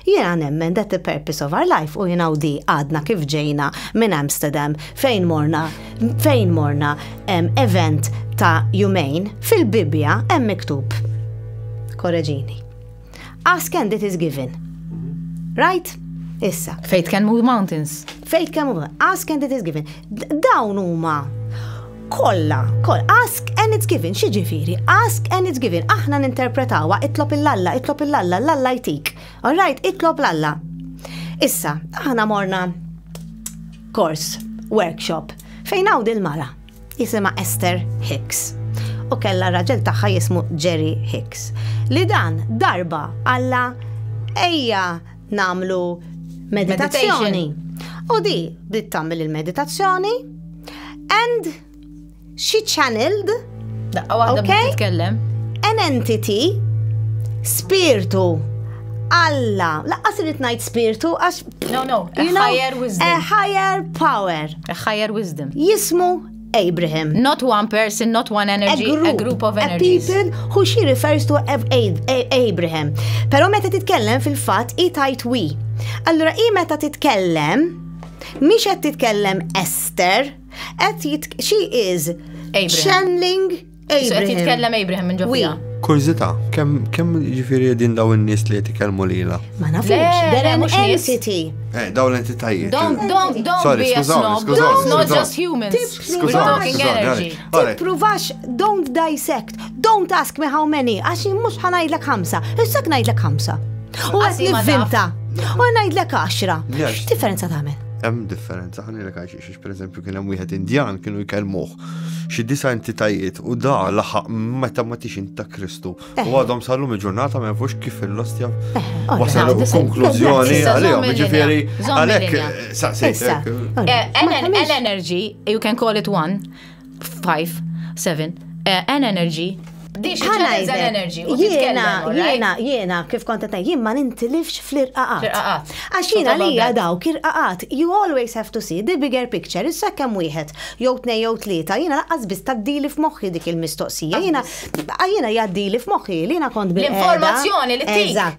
Jiena nemmen that the purpose of our life u jien hawn di għadna kif ġejna minn Amsterdam fejn morna fejn morna event ta' jumejn fil-Bibbja hemm miktub. Korreġini. Ask and it is given. Right? Issa. Faith can move mountains. Faith can move. Ask and it is given. Dawn huma Kolla, koll, ask and it's given, xi ġifieri, ask and it's given, aħna ninterpretawha itlob il-Alla, itlob il-Alla, l-Alla jtik. All right, itlob l-Alla. Issa, aħna morna kors, workshop, fejn hawn il-mara jisima Esther Hicks u kella raġel tagħha jismu Jerry Hicks. Li dan darba Alla ejja nagħmlu meditazzjoni. U di bdiet tagħmel il-meditazzjoni and she channeled Daqqa waħda okay? titkellem. An entity spirtu Alla, laqqas irrid ngħid spirtu għax No, no, a higher wisdom. A higher power. A higher wisdom. Jismu Abraham. Not one person, not one energy, a group, a group of energies. A people who she refers to as Abraham. Pero meta titkellem fil-fat i tajt we. Allura i meta titkellem, miex qed titkellem Esther, qed she is Abraham. channeling Qed jitkellem Abraham minn ġofija. Kurzita, kemm kemm ġifieri din daw in-nies li qed ikellmu lila? Ma nafux, they're an entity. Eh, daw l-entitajiet. Don't, don't, don't Sorry, be a snob. Don't, not just humans. Skużawni, skużawni. Tippruvax, don't dissect. Don't ask me how many, għax mhux ħanajdlek ħamsa. Issak ngħidlek ħamsa. U għas nivvinta. U ngħidlek għaxra. X'differenza tagħmel? Hemm differenza, ħanilek għaxiex. Per eżempju, kien hemm wieħed Indjan kienu jkellmuh xi disa entitajiet u da laħaq meta ma tix inta Kristu. U eh. għadhom sallum il-ġurnata ma jafux kif il-lostja eh, wasal konklużjoni għalihom. Ġifieri għalhekk eh, saqsejtek. L-energy, you can call it one, 5, 7, N Energy, Jiena, jiena, kif kontet jien ma nintilifx fl-irqaqat. Għax jiena li daw kirqaqat, you always have to see the bigger picture, issa kemm wieħed, jew tnej jew tlieta, jiena laqqas biss taddili f'moħħi dik il-mistoqsija, jiena jiena jaddili f'moħħi li jiena kont bil L-informazzjoni li tik.